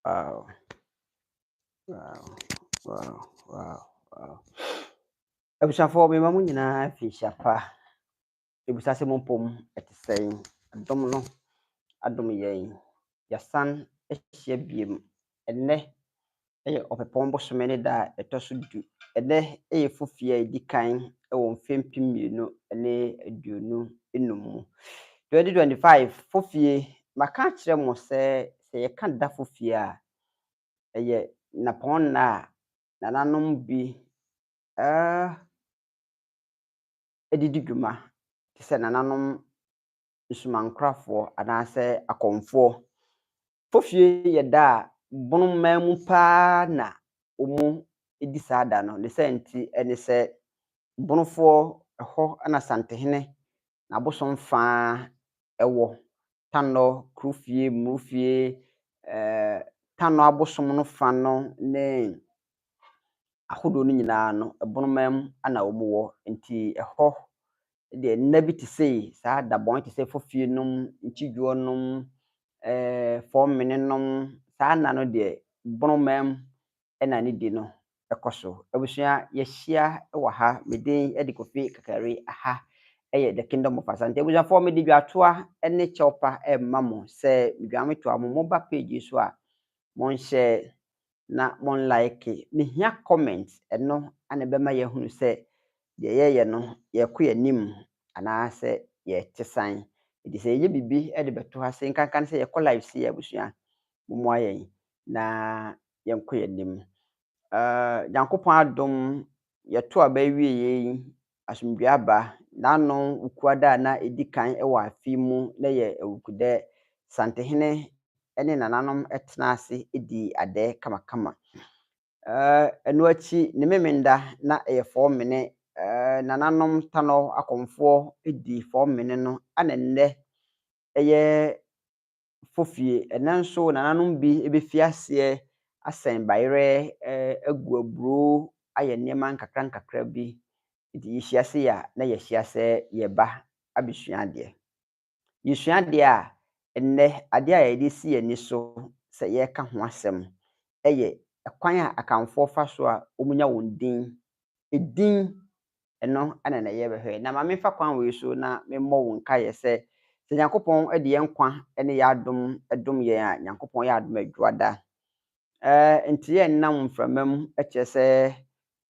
Wow. Wow. Wow. Wow. Wow. Abusuafoɔ mema mo nyinaa fi hyia pa. Ebisa sɛ mo mpom ɛte sɛn. Adom no adom yɛn. Yɛasan ahyia biem. Ɛnnɛ yɛ ɔpɛpɔn bosome ne da a ɛtɔ so du. Ɛnnɛ yɛ fofie a ɛdi kan wɔ mfe mpem mmienu ne aduonu nnum mu. Twenty twenty five fofie, maka akyerɛ mo sɛ sɛ yɛka da fofie a, ɛyɛ nnapɔn nna a nananom bi ɛɛ ɛde di dwuma te sɛ nananom nsomankorafoɔ anaasɛ akɔmfoɔ. Fofie yɛ da a bono man mu pa ara na wɔdi saa da no. Ne saa nti ne sɛ, bonofoɔ hɔ na Asantehene n'abosom fã wɔ. Tannɔ, Kurofie, Mmorofie, Tannɔ abosom no fã no ne ahodoɔ no nyinaa no, bono man mu na wɔwɔ. Nti ɛhɔ deɛ nna bi te sei saa dabɔn te sɛ fofie nom nkyidwoɔ nom fɔm mene nom saa nna no deɛ boroma mu ɛna ne di no ɛkɔ so abusua yɛhyia wɔ ha me din ɛde kofi kakari aha ɛyɛ the kingdom of asante abusuafoɔ mede dwatoa ɛne kyɛwpa ɛma mo sɛ dwametoa mo mo ba page so a monhyɛ na mo nlaeke. Mehia comment, ɛno na ɛbɛma yɛahunu sɛ deɛ yɛyɛ no yɛrekɔ yɛn anim anaasɛ yɛrete san. Nti sɛ yɛyɛ biribi de bɛto ha sei, nkanka no sɛ yɛkɔ live sei a abusua, mommoa yɛn na yɛnkɔ yɛn anim. Nyankopɔn adom, yɛto aba awieɛ yi, asomdwee aba n'ano wukuada a na edi kan wɔ afe mu na ɛyɛ awukudɛ. Santehene ne nananom tenaa ase dii adɛ kamakama. Ɛno akyi, ne Memenda na ɛyɛ Fɔɔmene. Nananom Tanɔ akɔmfoɔ dii Fɔɔmene no na nnɛ ɛyɛ fo fie. Ɛnnɛ nso, nananom bi bɛfi aseɛ asɛn bayerɛ, agu aburoo, ayɛ nneɛma nkakrankakra bi. Nti yɛhyia sei a, na yɛahyia sɛ yɛreba abɛsua adeɛ. Yɛsua adeɛ a, ɛnnɛ adeɛ a yɛde si yɛn ani so sɛ yɛreka ho asɛm yɛ kwan a Akanfoɔ fa so a wɔnya wɔn din. Edin Ɛno na na yɛbɛhwɛ. Na ma memfa kwan wei so na memmɔ wo nkaeɛ sɛ, sɛ Nyankopɔn de yɛn nkwa ne yɛn adom dom yɛn a, Nyankopɔn yɛ adom adwuada. Ɛɛ, enti yɛnnam mframa mu kyerɛ sɛ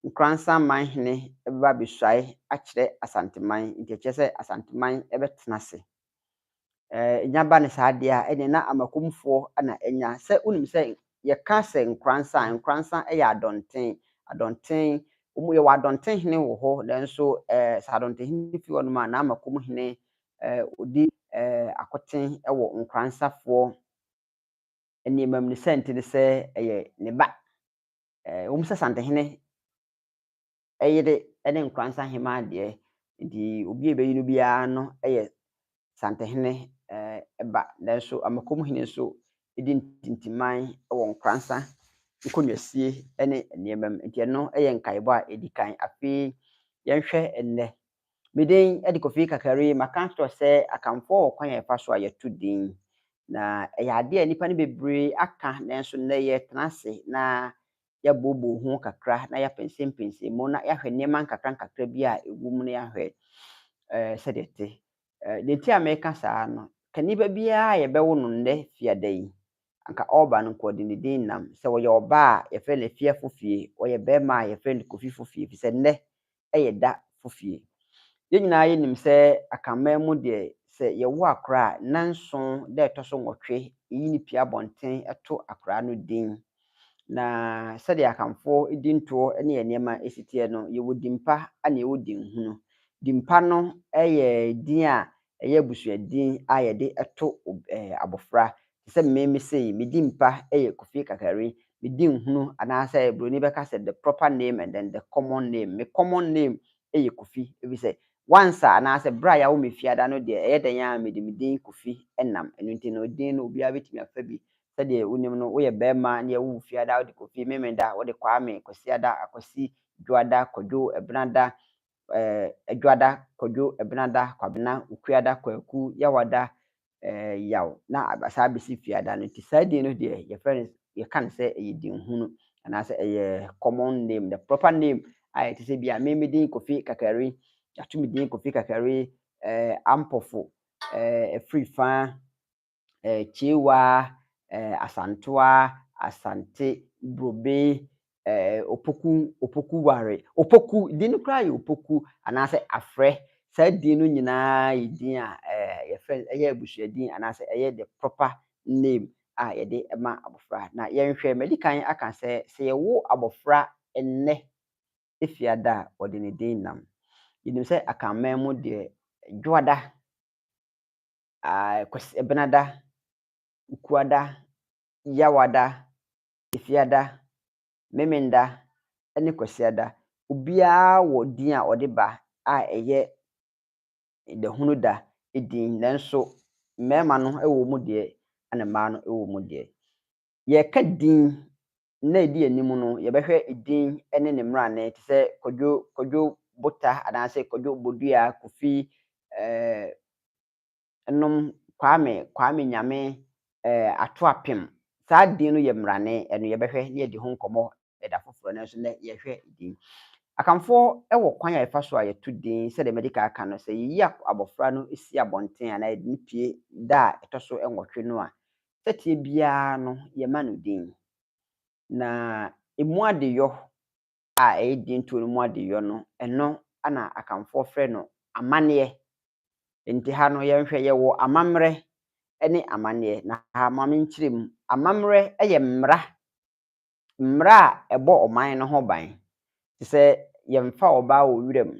Nkoransan man hene bɛba abɛsuae akyerɛ Asanteman, enti ɛkyerɛ sɛ Asanteman bɛtena ase. nya ba no saa deɛ a, ɛneɛ na amakomfoɔ na anya. Sɛ wonim sɛ yɛka sɛ nkoransa a, nkoransa yɛ adɔnten, adɔnten, wɔn yɛwɔ adɔnten hene wɔ hɔ, nanso ɛɛ sɛ adɔnten hene fi hɔnom a, na amakom hene ɛɛ ɔdi ɛɛ akoten wɔ nkoransafoɔ nneɛma mu ne sɛ nti ne sɛ ɛyɛ ne ba. Ɛɛ wɔn sɛ santehene yere ne Nkoransa Hemaa deɛ, nti obi a ɛbɛyi no biara no yɛ Santehene ba, nanso Amakom Hene nso di ntintiman wɔ Nkoransa nkonnwasie ne nneɛma mu, nti ɛno yɛ nkaebɔ a ɛdi kan. Afei yɛnhwɛ nnɛ. Me din de Kofi Kakari, maka atorɔ sɛ Akanfoɔ wɔ kwan a yɛfa so a yɛto din, na ɛyɛ adeɛ a nnipa no bebree aka, nanso nnɛ yɛretena ase na yɛabooboo ho kakra na yɛapɛnsɛmpɛnsɛm mu na yɛahwɛ nneɛma nkakrankakra bi a ɛwɔ mu na yɛahwɛ ɛɛ sɛdeɛ ɛte. Ɛɛ deɛ nti a meka saa no, kaniba biara a yɛbɛwo no nnɛ fiada yi, anka ɔreba no nkɔɔdinidin nnam. Sɛ ɔyɛ ɔbaa a, yɛfrɛ no Afie Afofie, ɔyɛ barima a, yɛfrɛ no Kofi Fofie, ɛfiri sɛ nnɛ yɛ da fo fie. Yɛn nyinaa yɛ nim sɛ akanman mu deɛ sɛ yɛ wo akora a nna nson da ɛtɔ so nwɔtwe yɛ yi no pie abɔnten to akora no din. Na sɛdeɛ akanfoɔ di ntoɔ ne yɛ nneɛma si teɛ no yɛ wɔ din pa ne yɛ wɔ din hunu. Din pa no yɛ din a ɛyɛ abusua din a yɛde to abɔfra te sɛ me me sei me din pa yɛ Kofi Kakari me din hunu anaasɛ broni bɛka sɛ the proper name and then the common name me common name yɛ Kofi efisɛ once a anaasɛ berɛ a yɛawo me fiada no deɛ ɛyɛ dɛn a mede me din Kofi nam ɛno nti no din no obiara bɛtumi afa bi sɛdeɛ wonim no woyɛ bɛrima ne yɛwo wo fiada wode Kofi Memeda wode Kwame Kwasiada Akwasi Dwoada Kwadwo Ɛbenada Adwada, Kwadwo, Ɛbenada, Kwabena, Okuada, Kwaku, Yawada, Yaw, na aba saa bɛsi Fiada no nti saa din no deɛ yɛfrɛ no yɛka no sɛ ɛyɛ dinhunu anaasɛ ɛyɛ common name the proper name a ɛte sɛ bi a me me din Kofi Kakari yɛato me din Kofi Kakari ɛɛ Ampɔfo ɛɛ Afiri Faa eh, Kyewa, eh, Asantoa, Asante, Brobe, eh, Opoku, Opoku Ware. Opoku, din no koraa yɛ Opoku anaasɛ Afrɛ. Saa din no nyinaa yɛ din a eh, yɛfrɛ ɛyɛ abusua din anaasɛ ɛyɛ the proper name a yɛde ma abɔfra. Na yɛnhwɛ, madi kan aka sɛ sɛ yɛwo abɔfra nnɛ efiada a wɔde ne din nam. Yɛnim sɛ akanman mu deɛ dwoada Kwasi Ɛbenada, Ukuada, Yawada, Efiada, Memenda ne Kwasiada. Obiara wɔ din a ɔde ba a ɛyɛ Dahunuda din nanso mmarima no wɔ mu deɛ ɛna mmaa no wɔ mu deɛ. Yɛreka din Nna a edi anim no, yɛbɛhwɛ edin ne ne mmarane te sɛ Kwadwo, Kwadwo Bota anaasɛ Kwadwo Bodua, Kofi, eh, nom, Kwame, Kwame Nyame, eh, Ato Apem. Saa din no yɛ mmarane, ɛno yɛbɛhwɛ na yɛadi ho nkɔmmɔ ɛda foforɔ, nanso nnɛ yɛhwɛ edin. Akanfoɔ wɔ kwan a yɛfa so a yɛto din, sɛdeɛ madi kan aka no, sɛ yɛyi abɔfra no si abɔnten anaa yɛde no pue da a ɛtɔ so nwɔtwe no a, sɛteɛ biara no yɛma no din. Na ɛmu adeyɔ a ɛyɛ dintuo no mu adeyɔ no, ɛno na Akanfoɔ frɛ no amanneɛ. Nti ha no yɛnhwɛ, yɛwɔ amammerɛ ne amanneɛ. Na ha ma menkyerɛ mu. Amammerɛ yɛ mmara, mmara a ɛbɔ ɔman no ho ban. Te sɛ yɛmfa ɔbaa wɔ wura mu,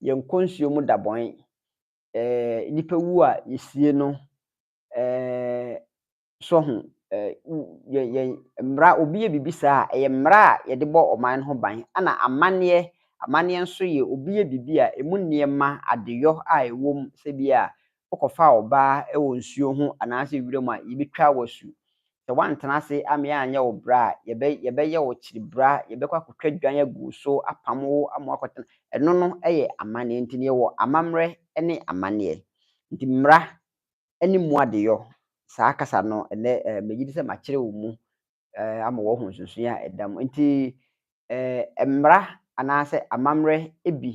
yɛnkɔ nsuo mu dabɔn, nnipa wu a yɛsie no, eh, so ho eh, yɛ, yɛ mmara, obi yɛ biribi saa a, ɛyɛ mmara a yɛde bɔ ɔman no ho ban, ɛna amanneɛ, amanneɛ nso yɛ obi yɛ biribi a ɛmu nneɛma, adeyɔ a ɛwɔ mu, sɛ bi a wokɔfaa ɔbaa wɔ nsuo ho anaasɛ wira mu a, yɛbɛtwa wo asu. Sɛ woantena ase ammea anyɛ wo bra a, yɛbɛ, yɛbɛyɛ wo kyiribra, yɛbɛkɔ akɔtwa dwan agu wo so, apam wo ama woakɔtena. Ɛno no yɛ amanneɛ. Nti no yɛwɔ amammerɛ ne amanneɛ. Nti mmara ne mu adeyɔ. Saa kasa no, ɛnnɛ megye di sɛ makyerɛ wɔn mu ama wɔahu nsonsonoe a ɛda mu. Enti, mmara anaasɛ amammerɛ bi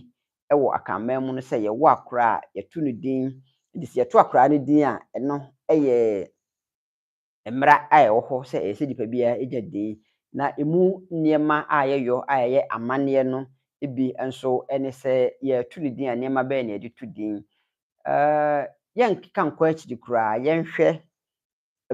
wɔ Akanman mu no sɛ yɛwo akora a, yɛto no din. Enti sɛ yɛto akora no din a, ɛno yɛ mmara a ɛwɔ hɔ sɛ ɛsɛ sɛ nipa biara gya din, na emu nneɛma a yɛyɔ a ɛyɛ amanneɛ no bi nso ne sɛ yɛreto ne din a, nneɛma bɛn na yɛde to din. Yɛnka nkɔ akyiri koraa, yɛnhwɛ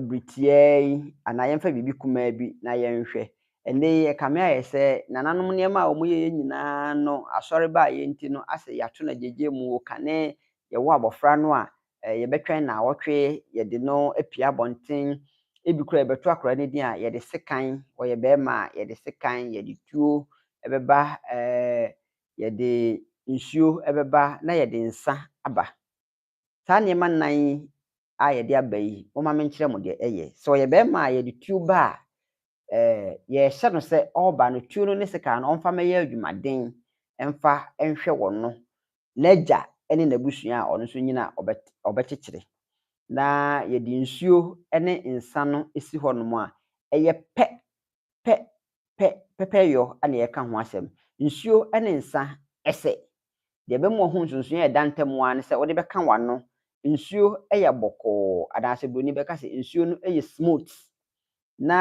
bere tiaa yi anaa yɛmfa biribi kumaa bi na yɛnhwɛ. Ɛnde ɛkame ayɛ sɛ nananom nneɛma a wɔyɛeɛ nyinaa no, asɔre baeɛ nti no, asɛ yɛato no agyegyeɛ mu, kane yɛwɔ abɔfra no a, eh, yɛbɛtwɛn nnaawɔtwe, yɛde no apue abɔnten, ebi kora yɛbɛto akora no din a yɛde sekan, ɔyɛ bɛrima a yɛde sekan, yɛde tuo ɛbɛba, eh, yɛde nsuo ɛbɛba na yɛde nsa aba. Saa nneɛma nnan yi a yɛde aba yi, momma menkyerɛ mo deɛ ɛyɛ. Sɛ ɔyɛ bɛrima a yɛde tuo ba a, yɛrehyɛ no sɛ ɔreba no, tuo no ne sekan no ɔmfa mmɛyɛ adwumaden mfa nhwɛ wɔn no, n'agya ne n'abusua a ɔno nso nyin a ɔbɛkyekyere. Na yɛde nsuo ne nsã no si hɔnom a, ɛyɛ pɛ, pɛ, pɛ, pɛpɛyɔ na yɛka ho asɛm. Nsuo ne nsã sɛ. Deɛ ɛbɛma wahu nsonsonoeɛ a ɛda ntam ara ne sɛ wode bɛka w'ano. Nsuo yɛ bɔkɔɔ, anaasɛ Buroni bɛka sɛ nsuo no yɛ smooth. na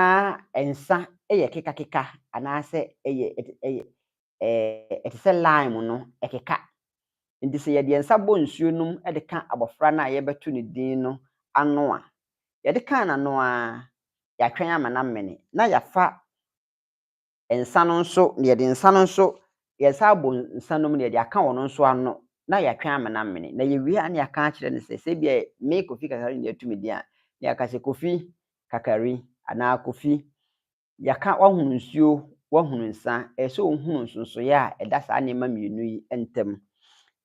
nsa yɛ kekakeka anaasɛ ɛyɛ ɛyɛ ɛte sɛ lime no ɛkeka nti sɛ yɛde nsa bɔ nsuo nom de ka abɔfra no a yɛbɛto ne din no ano a yɛde ka n'ano a yɛatwɛn ama no amene na yɛafa nsa no nso, na yɛde nsa no nso, yɛsan abɔ nsa no mu na yɛde aka wɔn nso ano na yɛatwe amena amene. Na yɛwie a na yɛaka akyerɛ no sɛ, sɛ ebia me Kofi Kakari na yɛatu me din a, na yɛaka sɛ, Kofi Kakari anaa Kofi, yɛaka woahunu nsuo, woahunu nsa, ɛyɛ sɛ wohunu nsonsoeɛ a ɛda saa nneɛma mmienu yi ntam.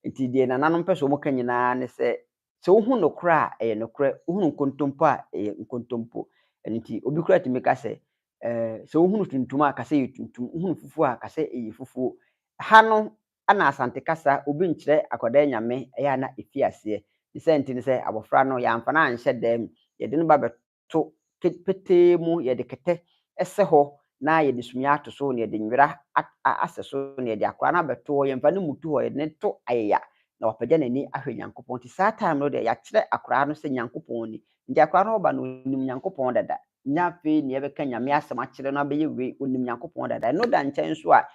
Nti deɛ nananom pɛ sɛ wɔka nyinaa ne sɛ, sɛ wohu nokorɛ a, ɛyɛ nokorɛ, wohunu nkontompo a, ɛyɛ nkontompo. Ɛno nti, obi koraa tumi ka sɛ, ɛɛ, sɛ wohunu tuntum a, ka sɛ ɛyɛ tuntum, wohunu fufuo a, ka sɛ ɛyɛ fufuo. Ha no, na Asante kasa, obi nkyerɛ akwadaa yi Nyame, ɛyɛ a na ɛfi aseɛ. Ne saa nti no, sɛ abɔfra no, yɛamfa no anhyɛ dan mu, yɛde no ba bɛ, to petee mu, yɛde kɛtɛ sɛ hɔ na yɛde sumiiɛ ato so na yɛde nwera asɛ so na yɛde akora no abɛto hɔ, yɛmfa no mmutu hɔ, yɛde no to ayaya na wapagya n'ani ahwɛ Nyankopɔn nti saa time no deɛ yɛakyerɛ akora no sɛ Nyankopɔn ni nti akora no ɔba no ɔnim Nyankopɔn dada, nyɛ afei na yɛbɛka Nyame asɛm akyerɛ no abɛyɛ wei, ɔnim Nyankopɔn dada, ɛno da nkyɛn nso a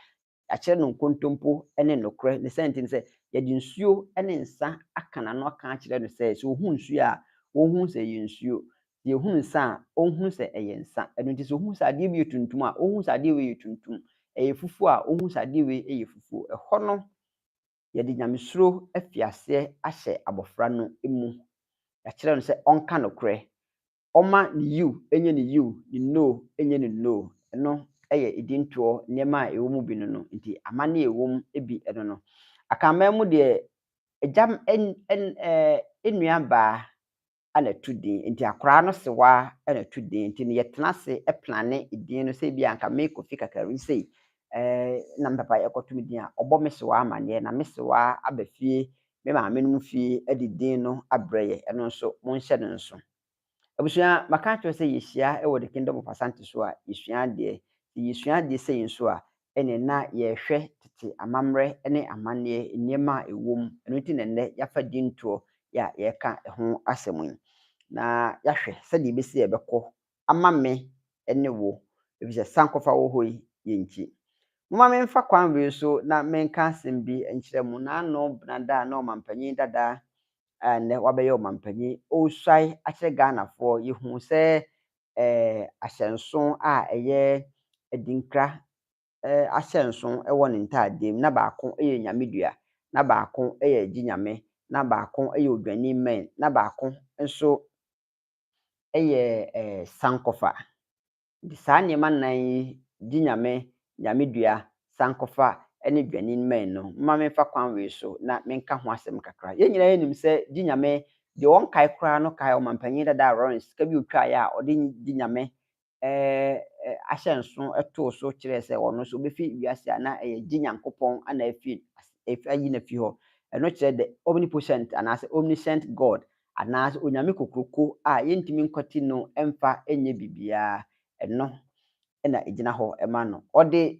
Yɛakyerɛ no nkontompo ne nokorɛ. Ne sɛn nti ne sɛ, yɛde nsuo ne nsã aka n'ano aka akyerɛ no sɛ, sɛ ɔhunu nsuo a, ɔnhunu sɛ ɛyɛ nsuo, deɛ ɔhunu nsã a, ɔnhunu sɛ ɛyɛ nsã. Ɛno nti sɛ ɔhunu sɛ adeɛ bi yɛ tuntum a, ɔnhunu sɛ adeɛ wei yɛ tuntum, ɛyɛ fufuo a, ɔnhunu sɛ adeɛ wei yɛ fufuo. Ɛhɔ no, yɛde nyamesuro afiri aseɛ ahyɛ abɔfra no mu. Yɛakyerɛ no sɛ ɔnka nokorɛ, ɔma ne yiw nyɛ ne yiw, ne no nyɛ ne no, ɛno yɛ edintoɔ, nneɛma a ɛwɔ mu bi no no nti, amanne a ɛwɔ mu bi no no. Akanman mu deɛ, agya nuabaa na ɛto din, nti akwadaa no sewa na ɛto din, nti no yɛtena ase plane edin no, sɛ ebia anka me Kofi Kakari sei na me papa yɛkɔto me din a, ɔbɔ me sewa amanneɛ na me sewa aba fie me maamenom fie de din no abrɛ yɛn, ɛno nso monhyɛ no nso. Abusua, maka akyerɛ wo sɛ yɛhyia wɔ The Kingdom of Asante so a, yɛsua adeɛ. Sɛ yɛsua adeɛ sei nso a, ɛnneɛ na yɛrehwɛ tete amammerɛ ne amanneɛ, nneɛma a ɛwɔ mu. Ɛno nti na nnɛ yɛafa dintoɔ yi a yɛreka ho asɛm yi, na yɛahwɛ sɛdeɛ ɛbɛsi a yɛbɛkɔ ama me ne wo, efisɛ sankɔfa wɔ hɔ yi yɛ nti. Momma memfa kwan wei so na menka asɛm bi nkyerɛ mo, Naano Benada a na ɔmampanyin dada a nnɛ wabɛyɛ ɔmampanyin, ɔresuae akyerɛ Ghanafoɔ, yɛhuu sɛ ahyɛnso a ɛyɛ Adinkra ahyɛnso wɔ ne ntaadeɛ mu, na baako yɛ Nyamedua, na baako yɛ Gye Nyame, na baako yɛ Odwani Mmɛn, na baako nso yɛ sankɔfa. Nti saa nneɛma nnan yi, gye Nyame, Nyame dua, sankɔfa ne dwanin mmɛn no, momma memfa kwan wei so na menka ho asɛm kakra. Yɛn nyinaa nim sɛ gye Nyame, deɛ wɔnkae koraa no kae ɔmampanyin dada Lawrence sika bi ɔtwaeɛ a ɔde gye Nyame ahyɛ nso too so kyerɛɛ sɛ ɔno nso ɔbɛfiri wiase a na ɛyɛ gye Nyankopɔn na afiri ayi no afi hɔ. Ɛno kyerɛ the omnipotent anaasɛ omniscient God anaasɛ Onyame kokroko a yɛntumi nkwati no mfa nyɛ biribiara. Ɛno na ɛgyina hɔ ma no. Ɔde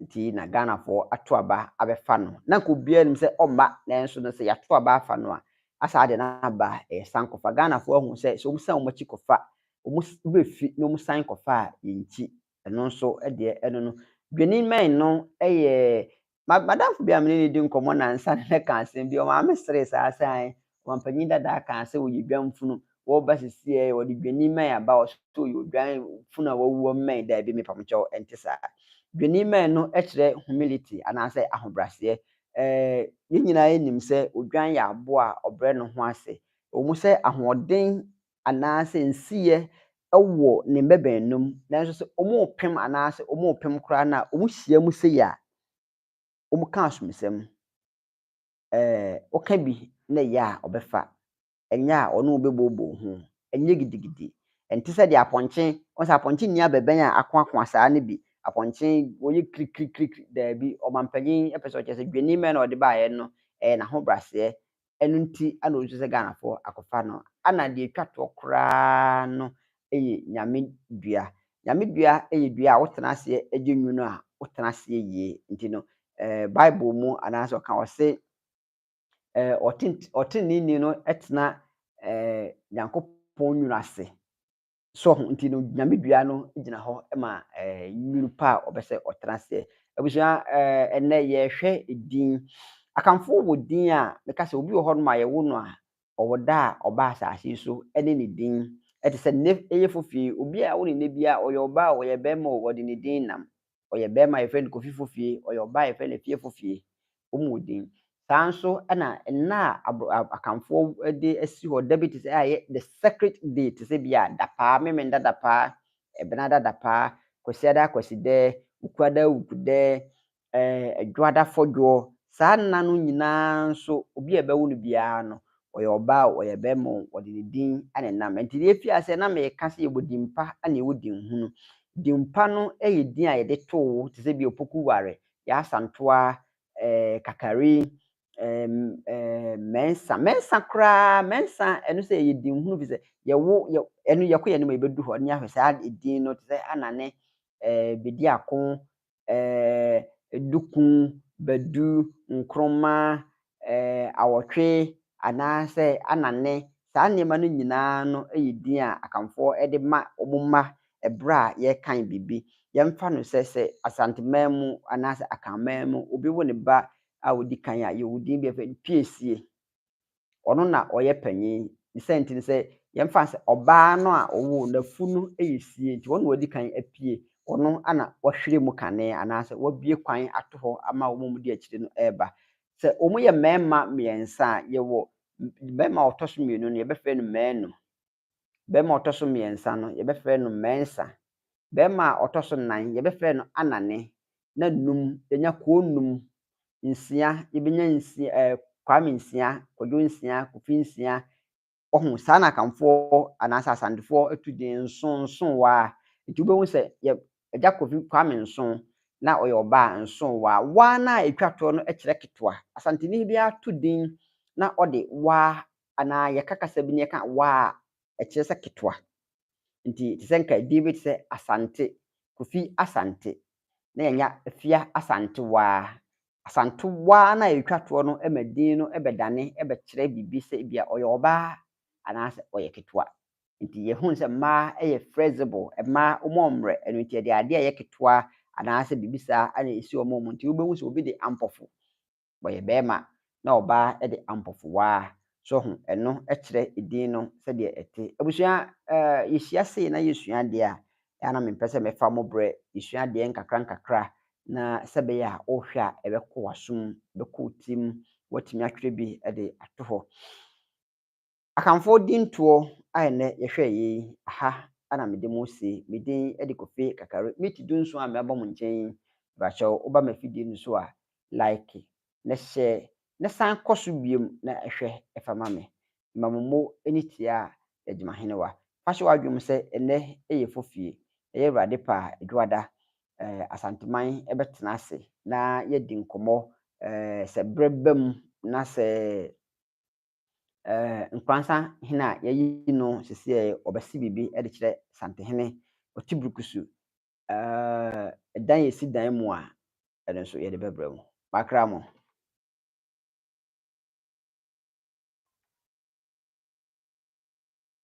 Nti na Ghanafoɔ ato aba abɛfa no. Na nka obiara nim sɛ ɔmma nanso no sɛ yɛato aba afa no a, asa adeɛ no aba a, ɛyɛ san kɔfa. Ghanafoɔ ahu sɛ sɛ wɔsan wɔn akyi kɔfa, wɔn werɛ fi na wɔsan kɔfa a, yɛnkyi. Ɛno nso deɛ ɛno no. Dwennimɛn no yɛ, ma, m'adamfo bi a me ne no redi nkɔmmɔ nnansa no na ɛka asɛm bi, ɔmaa me seree saa sɛ ae, Wanpanyin dadaa kaa sɛ ɔyɛ dwan funu, wɔba sisi ɛɛ ɔde dwani mmɛn aba ɔso ɔyɛ odwan funu a wawu ɔmmɛn daabi me pam kyɛw ɛnte saa. Dwani mmɛn no kyerɛ humility anaasɛ ahobraseɛ ɛɛ yɛn nyinaa yɛ nim sɛ odwan yɛ aboa a ɔbrɛ ne ho ase ɛwɔ mu sɛ ahoɔden anaasɛ nsiyɛ ɛwɔ ne mmɛbɛn no mu nanso sɛ wɔn repem anaasɛ wɔn repem koraa no a wɔn hyia mu sei a wɔn ka asomsɛm. eh, woka bi na ɛyɛ a ɔbɛfa, ɛnyɛ a ɔne wo bɛbooboo ho, ɛnyɛ gidigidi, ɛnte sɛ deɛ apɔnkye, wɔn sɛ apɔnkye nni abɛbɛn a akoakoa saa no bi, apɔnkye wɔyɛ kirikirikiri, daabi, ɔmampanyin pɛ sɛ ɔkyerɛ sɛ dwennimma na ɔde baeɛ no, ɛyɛ n'ahobraseɛ, ɛno nti na ɔsu sɛ Ghanafoɔ akɔfa no, ɛna deɛ ɛtwa toɔ koraa no yɛ Nyame dua. Nyame dua yɛ dua a wotena aseɛ gye nwunu a, wotena aseɛ yie. Nti no, eh, Bible mu anaasɛ ɔka wɔ se, eh, ɔteneneeni no tena eh, Nyankopɔn nwunu ase. So ho nti no, Nyame dua no gyina hɔ ma eh, nwunu pa a ɔbɛ sɛ ɔtena aseɛ. Abusua, eh, ɛnɛ yɛhwɛ din. Akanfo wɔ din a, meka sɛ obi wɔ hɔ nom a yɛwo no a, ɔwɔ da a ɔba asase yi so ne ne din. Ɛte sɛ nnɛ ayefo fie, obi a awo no nnɛ biara, ɔyɛ ɔbaa o, ɔyɛ barima o, wɔde ne din nam. Ɔyɛ barima a, yɛfrɛ no Kofi Fofie, ɔyɛ ɔbaa a, yɛfrɛ no Afie Fofie. Wɔwɔ din. Saa ara nso na nna a abro a Akanfoɔ de asi hɔ da bi te sɛ a ɛyɛ the sacred day te sɛ bi a Dapaa, Memenda Dapaa, Ɛbenada Dapaa, Kwasiada Kwasidɛ, Wukuada Wukudɛ, Ɛɛ, dwoada fɔdwoɔ. Saa nna no nyina ara nso, obi a ɛbɛwo no biara no, ɔyɛ ɔbaa o, ɔyɛ barima o, wɔde ne din ne nam. Ɛnti deɛ ɛfiri aseɛ na meka sɛ yɛwɔ din pa na yɛwɔ din hunu. Din pa no yɛ din a yɛde to wo te sɛ bi a Opoku Ware, Yasantoa, ɛɛ Kakari, ɛɛm, ɛɛ Mɛnsa. Mɛnsa koraa, Mɛnsa, ɛno sɛ ɛyɛ din hunu firi sɛ yɛwo, yɛ, ɛno yɛkɔ yɛn anim a yɛbɛduru hɔ ne yɛahwɛ saa din no te sɛ Anane, ɛɛ Bediako, ɛɛ, duku, badu, nkroma, ɛɛ, awɔtwe, anaasɛ anane. Saa nneɛma no nyinaa no yɛ din a Akanfoɔ de ma wɔn mma berɛ a yɛrekan biribi. Yɛmfa no sɛ, sɛ Asanteman mu anaasɛ Akanman mu obi wo ne ba a ɔdi kan a, yɛwɔ din bi a yɛfrɛ no Piesie. ɔno na ɔyɛ panyin. Ne sɛ nti no sɛ yɛmfa no sɛ ɔbaa no a ɔwoo no afu no yɛ sie nti ɔno na wadi kan apue, ɔno na wahwire mu kane anaasɛ wabue kwan ato hɔ ama wɔn a wɔdi akyire no reba. Sɛ wɔyɛ mmarima mmiɛnsa a, yɛwɔ barima a ɔtɔ so mmienu no yɛbɛfrɛ no manu. Barima a ɔtɔ so mmiɛnsa no, yɛbɛfrɛ no Mensah. Barima a ɔtɔ so nnan, yɛbɛfrɛ no Anane. Na nnum, yɛanya Koo nnum. Nsia, yɛbɛnya nsia, ɛɛ, Kwame nsia, Kwadwo nsia, Kofi nsia. Wahu? Saa na Akanfoɔ anaasɛ Asantefoɔ tu din, nson, nson waa. Nti wobɛhu sɛ yɛ Agya Kofi Kwame Nson, na ɔyɛ ɔbaa a, nson waa. Waa no a ɛtwa toɔ no kyerɛ ketewa. Asanteni biara to din na ɔde waa anaa yɛka kasa bi na yɛka waa a, ɛkyerɛ sɛ ketewa. Nti te sɛ nka edin bi te sɛ Asante, Kofi Asante, na yɛanya Afia Asantewaa. Asantewaa no a yɛtwa toɔ no ma din no bɛdane bɛkyerɛ biribi sɛ ebia ɔyɛ ɔbaa anaasɛ ɔyɛ ketewa. Nti yɛhunu sɛ mmaa yɛ flexible, mmaa wɔmmɔ mmerɛ, ɛno nti yɛde adeɛ a ɛyɛ ketewa anaasɛ biribi saa na ɛsi wɔn mu. Nti wobɛhu sɛ obi de ampɔfo wɔyɛ bɛɛma na ɔbaa de ampɔfowaa. So ho ɛno kyerɛ edin no sɛdeɛ ɛte? Abusua eh yɛhyia sei na yɛsua adeɛ a, ɛyɛ a na mempɛ sɛ mɛfa mo berɛ, yɛsua adeɛ nkakra nkakra na sɛ ɛbɛyɛ a wohwɛ a ɛbɛkɔ w'asom, ɛbɛkɔ wo tirim, woatumi atwerɛ bi de ato hɔ. Akanfoɔ dintoɔ a ɛnnɛ yɛhwɛɛ yɛ yi, aha na mede mo resi. Me din de Kofi Kakari. Meet du nson a mɛba mo nkyɛn yi, brakyɛ wo ba m'afidie no so a, like na share na san kɔ so biom na hwɛ fa ma me. Ma mo mo ani tia Dagymahenewa. Fa hyɛ w'adwene mu sɛ ɛnnɛ yɛ fofie. Ɛyɛ Awurade pɛ a, Dwoada, eh, Asanteman bɛtena ase na yɛadi nkɔmmɔ, eh, sɛ berɛ ba mu na sɛ. eh, Nkoransa hene a yɛayi no seseɛ ɔbɛse biribi de kyerɛ Santehene Ɔtebrukusu. Eh, dan yɛsi dan mu a, ɛno nso yɛde bɛbrɛ mu. Makra mo.